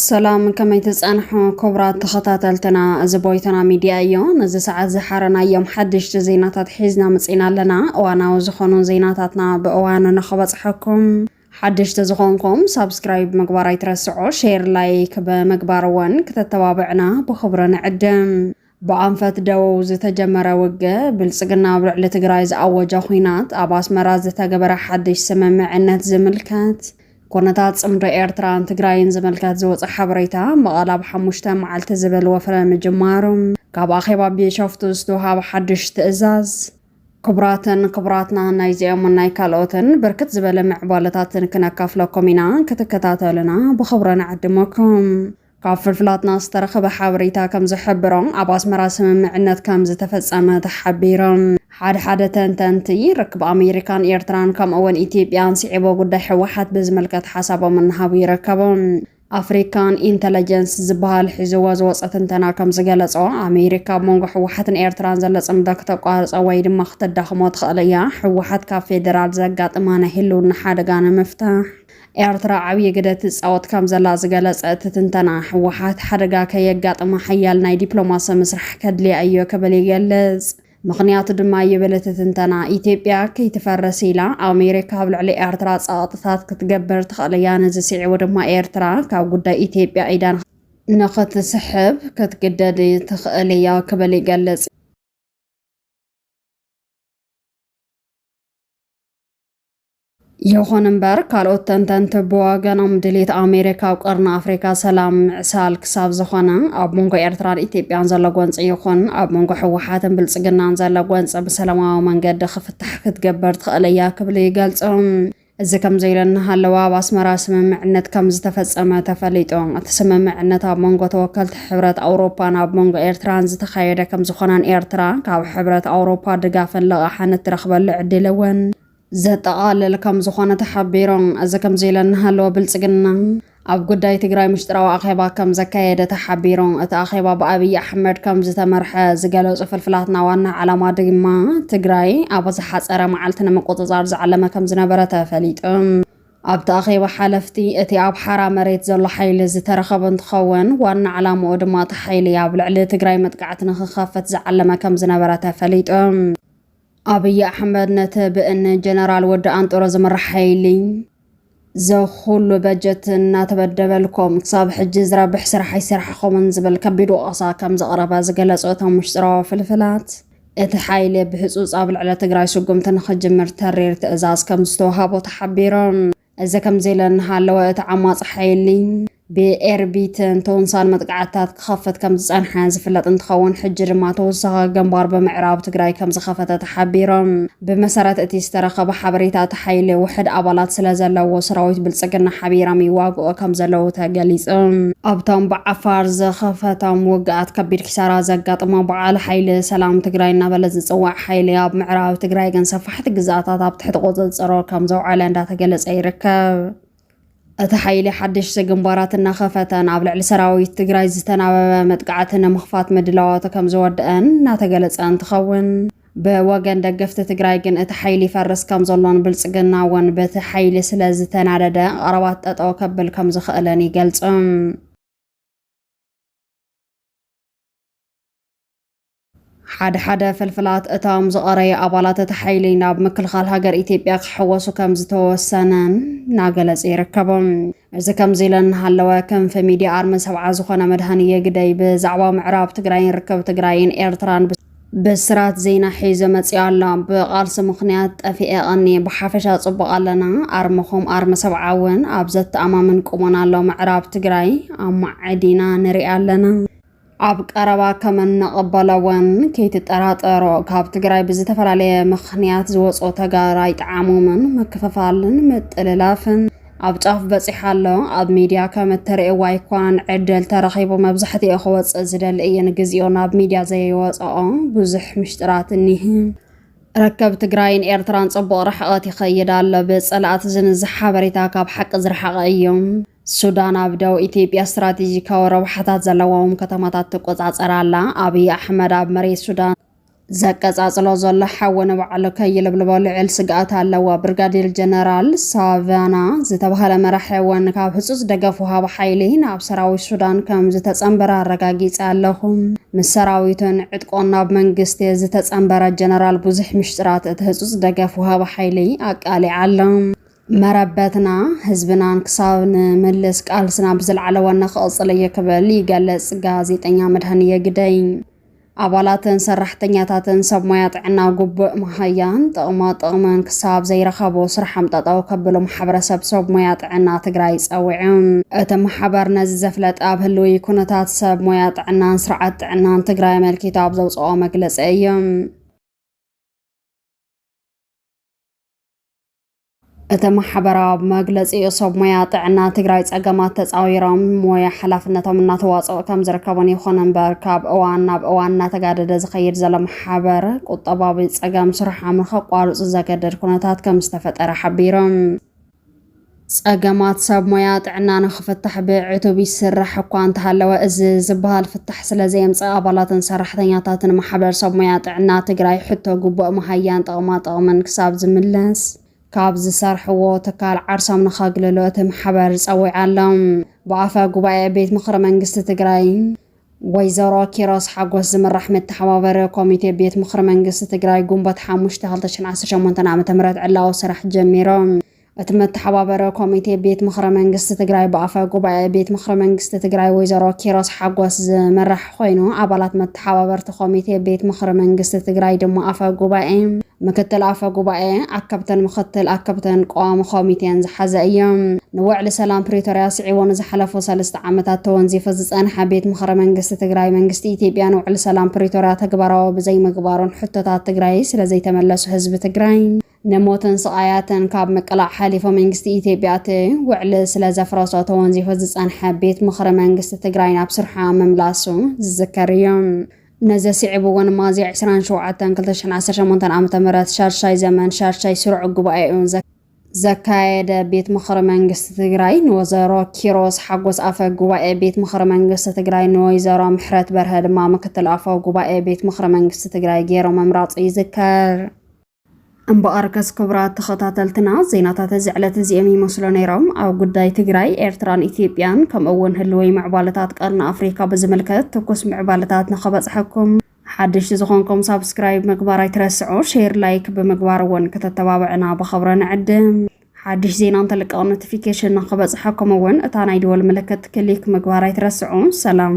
ሰላም ከመይ ትጸንሑ ክቡራት ተኸታተልትና፣ እዚ ቦይቶና ሚድያ እዮ። ነዚ ሰዓት ዝሓረናዮም ሓደሽቲ ዜናታት ሒዝና መጺና ኣለና። እዋናዊ ዝኾኑ ዜናታትና ብእዋኑ ንኽበጽሐኩም ሓደሽቲ ዝኾንኩም ሳብስክራይብ ምግባር ኣይትረስዑ፣ ሼር ላይክ ብምግባር እውን ክተተባብዕና ብኽብሪ ንዕድም። ብኣንፈት ደቡብ ዝተጀመረ ውግእ፣ ብልፅግና ኣብ ልዕሊ ትግራይ ዝኣወጀ ኹናት፣ ኣብ ኣስመራ ዝተገበረ ሓድሽ ስምምዕነት ዝምልከት፣ ኩነታት ፅምዶ ኤርትራን ትግራይን ዝምልከት ዝወፀ ሓበሬታ፣ መቐለ ኣብ ሓሙሽተ መዓልቲ ዝብል ወፍሪ ምጅማሩ፣ ካብ ኣኼባ ቢሸፍቱ ዝተውሃበ ሓድሽ ትእዛዝ፣ ክቡራትን ክቡራትና ናይዚኦምን ናይ ካልኦትን ብርክት ዝበለ ምዕባለታትን ክነካፍለኩም ኢና ክትከታተሉና ብኽብሪ ንዕድመኩም። ካብ ፍልፍላትና ዝተረኸበ ሓበሬታ ከም ዝሕብሮ ኣብ ኣስመራ ስምምዕነት ከም ዝተፈጸመ ተሓቢሮም ሓድሓደ ተንተንቲ ርክብ ኣሜሪካን ኤርትራን ከምኡ'ውን ኢትዮጵያን ስዒቦ ጉዳይ ሕወሓት ብዝምልከት ሓሳቦም እናሃቡ ይርከቡ። ኣፍሪካን ኢንተለጀንስ ዝበሃል ሒዝዎ ዝወፀ ትንተና ከም ዝገለፆ ኣሜሪካ ኣብ መንጎ ሕወሓትን ኤርትራን ዘሎ ፅምዶ ክተቋርፆ ወይ ድማ ክተዳኽሞ ትኽእል እያ። ሕወሓት ካብ ፌዴራል ዘጋጥማ ናይ ህልውና ሓደጋ ንምፍታሕ ኤርትራ ዓብዪ ግደ ትፃወት ከም ዘላ ዝገለፀ እቲ ትንተና፣ ሕወሓት ሓደጋ ከየጋጥማ ሓያል ናይ ዲፕሎማሲ ምስራሕ ከድልያ እዮ ክብል ይገልፅ። ምኽንያቱ ድማ ይብል እቲ ትንተና፣ ኢትዮጵያ ከይትፈርስ ኢላ ኣሜሪካ ኣብ ልዕሊ ኤርትራ ጸቕጥታት ክትገብር ትኽእል እያ። ነዚ ስዒቡ ድማ ኤርትራ ካብ ጉዳይ ኢትዮጵያ ኢዳ ንኽትስሕብ ክትግደድ ትኽእል እያ ክብል ይገልጽ። ይኹን እምበር ካልኦት ተንተንቲ ብወገኖም ድሌት ኣሜሪካ ኣብ ቀርኒ ኣፍሪካ ሰላም ምዕሳል ክሳብ ዝኾነ ኣብ መንጎ ኤርትራን ኢትዮጵያን ዘሎ ጎንፂ ይኹን ኣብ መንጎ ህወሓትን ብልፅግናን ዘሎ ጎንፂ ብሰላማዊ መንገዲ ክፍታሕ ክትገብር ትኽእል እያ ክብሉ ይገልፁ። እዚ ከምዚሉ እናሃለወ ኣብ ኣስመራ ስምምዕነት ከምዝተፈፀመ ተፈሊጡ። እቲ ስምምዕነት ኣብ መንጎ ተወከልቲ ሕብረት ኣውሮፓን ኣብ መንጎ ኤርትራን ዝተኻየደ ከምዝኾነን ኤርትራ ካብ ሕብረት ኣውሮፓ ድጋፍን ልቓሕን እትረኽበሉ ዕድል እውን ዘጠቓልል ከምዝኾነ ተሓቢሩ። እዚ ከምዚ ኢለ እናሃለወ ብልፅግና ኣብ ጉዳይ ትግራይ ምሽጥራዊ ኣኼባ ከም ዘካየደ ተሓቢሩ። እቲ ኣኼባ ብኣብይ ኣሕመድ ከም ዝተመርሐ ዝገለፁ ፍልፍላትና ዋና ዓላማ ድማ ትግራይ ኣብ ዝሓፀረ መዓልቲ ንምቁፅፃር ዝዓለመ ከም ዝነበረ ተፈሊጡ። ኣብቲ ኣኼባ ሓለፍቲ እቲ ኣብ ሓራ መሬት ዘሎ ሓይሊ ዝተረኸቡ እንትኸውን ዋና ዓላምኡ ድማ እቲ ሓይሊ ኣብ ልዕሊ ትግራይ መጥቃዕቲ ንክኸፍት ዝዓለመ ከም ዝነበረ ተፈሊጡ። ኣብይ ኣሕመድ ነቲ ብእኒ ጀነራል ወዲ ኣንጦሮ ዝምራሕ ሓይሊ ዘኹሉ በጀት እናተበደበልኩም ክሳብ ሕጂ ዝረብሕ ስራሕ ኣይሰራሕኹምን ዝብል ከቢድ ወቐሳ ከም ዘቕረበ ዝገለጹ እቶም ውሽጥራዊ ፍልፍላት እቲ ሓይሊ ብህፁፅ ኣብ ልዕሊ ትግራይ ስጉምቲ ንክጅምር ተሪር ትእዛዝ ከም ዝተዋሃቦ ተሓቢሮም። እዚ ከምዚ ኢለ እናሃለወ እቲ ዓማጺ ሓይሊ ብኤርቢትን ቶንሳን መጥቃዕትታት ክኸፍት ከም ዝጸንሐ ዝፍለጥ እንትኸውን ሕጂ ድማ ተወሳኺ ግንባር ብምዕራብ ትግራይ ከም ዝኸፈተ ተሓቢሮም። ብመሰረት እቲ ዝተረኸበ ሓበሬታ እቲ ሓይሊ ውሕድ ኣባላት ስለ ዘለዎ ሰራዊት ብልጽግና ሓቢሮም ይዋግኡ ከም ዘለዉ ተገሊጹ። ኣብቶም ብዓፋር ዝኸፈቶም ውግኣት ከቢድ ኪሳራ ዘጋጥሞ በዓል ሓይሊ ሰላም ትግራይ እናበለ ዝጽዋዕ ሓይሊ ኣብ ምዕራብ ትግራይ ግን ሰፊሕ መራሕቲ ግዝኣታት ኣብ ትሕቲ ቁፅፅሮ ከም ዘውዓለ እንዳተገለፀ ይርከብ። እቲ ሓይሊ ሓደሽቲ ግንባራት እናኸፈተን ኣብ ልዕሊ ሰራዊት ትግራይ ዝተናበበ መጥቃዕቲ ንምኽፋት ምድላዋቱ ከም ዝወደአን እናተገለጸ እንትኸውን ብወገን ደገፍቲ ትግራይ ግን እቲ ሓይሊ ይፈርስ ከም ዘሎን ብልጽግና እውን በቲ ሓይሊ ስለ ዝተናደደ ቐረባት ጠጠው ከብል ከም ዝኽእልን ይገልጽም። ሓደ ሓደ ፍልፍላት እቶም ዝቐረዩ ኣባላት እቲ ሓይሊ ናብ ምክልኻል ሃገር ኢትዮጵያ ክሕወሱ ከም ዝተወሰነ እናገለጹ ይርከቡ። እዚ ከምዚ ኢለ እናሃለወ ክንፊ ሚድያ ኣርሚ ሰብዓ ዝኾነ መድሃንየ ግደይ ብዛዕባ ምዕራብ ትግራይን ርክብ ትግራይን ኤርትራን ብስራት ዜና ሒዞ መፂኡ ኣሎ። ብቓልሲ ምኽንያት ጠፊኤ ቐኒ ብሓፈሻ ጽቡቕ ኣለና። ኣርምኹም ኣርሚ ሰብዓ እውን ኣብ ዘተኣማምን ቁመና ኣሎ። ምዕራብ ትግራይ ኣማዕዲና ንሪኣ ኣለና። ኣብ ቀረባ ከም እንቕበሎ እውን ከይትጠራጠሩ። ካብ ትግራይ ብዝተፈላለየ ምኽንያት ዝወፁ ተጋር ኣይጠዓሞምን። ምክፍፋልን ምጥልላፍን ኣብ ጫፍ በፂሑ ኣሎ። ኣብ ሚድያ ከም እትርእይዎ ኣይኮነን ዕድል ተረኺቡ መብዛሕትኡ ክወፅእ ዝደሊ እዩ ንግዚኡ ናብ ሚድያ ዘይወፀኦ ብዙሕ ምሽጥራት እኒህ። ርከብ ትግራይን ኤርትራን ጽቡቕ ርሕቐት ይኸይድ ኣሎ። ብጸላእቲ ዝንዝሕ ሓበሬታ ካብ ሓቂ ዝረሓቐ እዩ። ሱዳን ኣብ ደቡብ ኢትዮጵያ ስትራቴጂካዊ ረብሓታት ዘለዎም ከተማታት ትቆጻጸር ኣላ። ኣብይ ኣሕመድ ኣብ መሬት ሱዳን ዘቀጻጽሎ ዘሎ ሓዊ ንባዕሉ ከይልብልቦ ልዕል ስግኣት ኣለዎ። ብርጋዴር ጀነራል ሳቫና ዝተባህለ መራሒ እውን ካብ ህጹጽ ደገፍ ውሃቢ ሓይሊ ናብ ሰራዊት ሱዳን ከም ዝተጸንበረ ኣረጋጊጸ ኣለኹ። ምስ ሰራዊቱን ዕጥቆን ናብ መንግስቲ ዝተጸንበረ ጀነራል ብዙሕ ምሽጥራት እቲ ህጹጽ ደገፍ ውሃቢ ሓይሊ ኣቃሊዓ ኣሎ። መረበትና ህዝብናን ክሳብ ንምልስ ቃልስና ብዝለዓለ ዋና ክቕፅል እየ ክብል ይገልፅ ጋዜጠኛ መድሃንየ ግደይ። ኣባላትን ሰራሕተኛታትን ሰብ ሞያ ጥዕና ጉቡእ መሃያን ጥቕማ ጥቕምን ክሳብ ዘይረኸቡ ስርሖም ጠጠው ከብሉ ማሕበረሰብ ሰብ ሞያ ጥዕና ትግራይ ፀዊዑ። እቲ ማሕበር ነዚ ዘፍለጠ ኣብ ህልዊ ኩነታት ሰብ ሞያ ጥዕናን ስርዓት ጥዕናን ትግራይ ኣመልኪቱ ኣብ ዘውፅኦ መግለፂ እዩ። እቲ ማሕበራዊ መግለፂኡ ሰብ ሞያ ጥዕና ትግራይ ፀገማት ተፃዊሮም ሞያ ሓላፍነቶም እናተዋፅኦ ከም ዝርከቡን ይኹን እምበር ካብ እዋን ናብ እዋን እናተጋደደ ዝኸይድ ዘሎ ማሕበር ቁጠባዊ ፀገም ስርሖም ንከቋርፁ ዘገደድ ኩነታት ከም ዝተፈጠረ ሓቢሮም። ፀገማት ሰብ ሞያ ጥዕና ንክፍታሕ ብዕቱብ ይስራሕ እኳ እንተሃለወ እዚ ዝበሃል ፍታሕ ስለዘየምፅእ ኣባላትን ሰራሕተኛታትን ማሕበር ሰብ ሙያ ጥዕና ትግራይ ሕቶ ግቡእ መሃያን ጥቕማጥቕምን ክሳብ ዝምለስ ካብ ዝሰርሕዎ ትካል ዓርሶም ንኸግልሉ እቲ ማሕበር ፀዊዑ ኣሎ። ብኣፈ ጉባኤ ቤት ምኽሪ መንግስቲ ትግራይ ወይዘሮ ኪሮስ ሓጎስ ዝምራሕ መተሓባበሪ ኮሚቴ ቤት ምኽሪ መንግስቲ ትግራይ ግንቦት ሓሙሽተ ክልተ ሽሕን ዓሰርተ ሸሞንተን ዓመተ ምህረት ዕላዊ ስራሕ ጀሚሩ። እቲ መተሓባበሪ ኮሚቴ ቤት ምኽሪ መንግስቲ ትግራይ ብኣፈ ጉባኤ ቤት ምኽሪ መንግስቲ ትግራይ ወይዘሮ ኪሮስ ሓጎስ ዝምራሕ ኮይኑ ኣባላት መተሓባበርቲ ኮሚቴ ቤት ምኽሪ መንግስቲ ትግራይ ድማ ኣፈ ጉባኤ፣ ምክትል ኣፈ ጉባኤ፣ ኣከብትን ምክትል ኣከብትን ቀዋሚ ኮሚቴን ዝሓዘ እዩ። ንውዕሊ ሰላም ፕሪቶርያ ስዒቦ ንዝሓለፉ ሰለስተ ዓመታት ተወንዚፉ ዝፀንሐ ቤት ምኽሪ መንግስቲ ትግራይ መንግስቲ ኢትዮጵያ ንውዕሊ ሰላም ፕሪቶርያ ተግባራዊ ብዘይምግባሩን ሕቶታት ትግራይ ስለዘይተመለሱ ህዝቢ ትግራይ ንሞትን ስቓያትን ካብ ምቅላዕ ሓሊፎ መንግስቲ ኢትዮጵያ እቲ ውዕሊ ስለ ዘፍረሶ ተወንዚፉ ዝጸንሐ ቤት ምኽሪ መንግስቲ ትግራይ ናብ ስርሓ ምምላሱ ዝዝከር እዩ። ነዚ ስዒቡ እውን ሚያዝያ ዕስራን ሸውዓተን ክልተ ሽሕን ዓሰርተ ሸሞንተን ዓመተ ምህረት ሻድሻይ ዘመን ሻድሻይ ስሩዕ ጉባኤኡ ዘካየደ ቤት ምኽሪ መንግስቲ ትግራይ ንወዘሮ ኪሮስ ሓጎስ ኣፈ ጉባኤ ቤት ምኽሪ መንግስቲ ትግራይ ንወይዘሮ ምሕረት በርሀ ድማ ምክትል ኣፈ ጉባኤ ቤት ምኽሪ መንግስቲ ትግራይ ገይሮም ምምራጹ ይዝከር። እምበኣርከስ ክቡራት ተኸታተልትና ዜናታት እዚ ዕለት እዚኦም ይመስሉ ነይሮም። ኣብ ጉዳይ ትግራይ፣ ኤርትራን ኢትዮጵያን ከምኡ እውን ህልወይ ምዕባለታት ቀርኒ ኣፍሪካ ብዝምልከት ትኩስ ምዕባለታት ንኸበፅሐኩም ሓደሽቲ ዝኾንኩም ሳብስክራይብ ምግባር ኣይትረስዑ፣ ሼር ላይክ ብምግባር እውን ከተተባብዕና ብኸብረ ንዕድም። ሓድሽ ዜና እንተልቀቕ ኖቲፊኬሽን ንክበፅሐኩም እውን እታ ናይ ደወል ምልክት ክሊክ ምግባር ኣይትረስዑ። ሰላም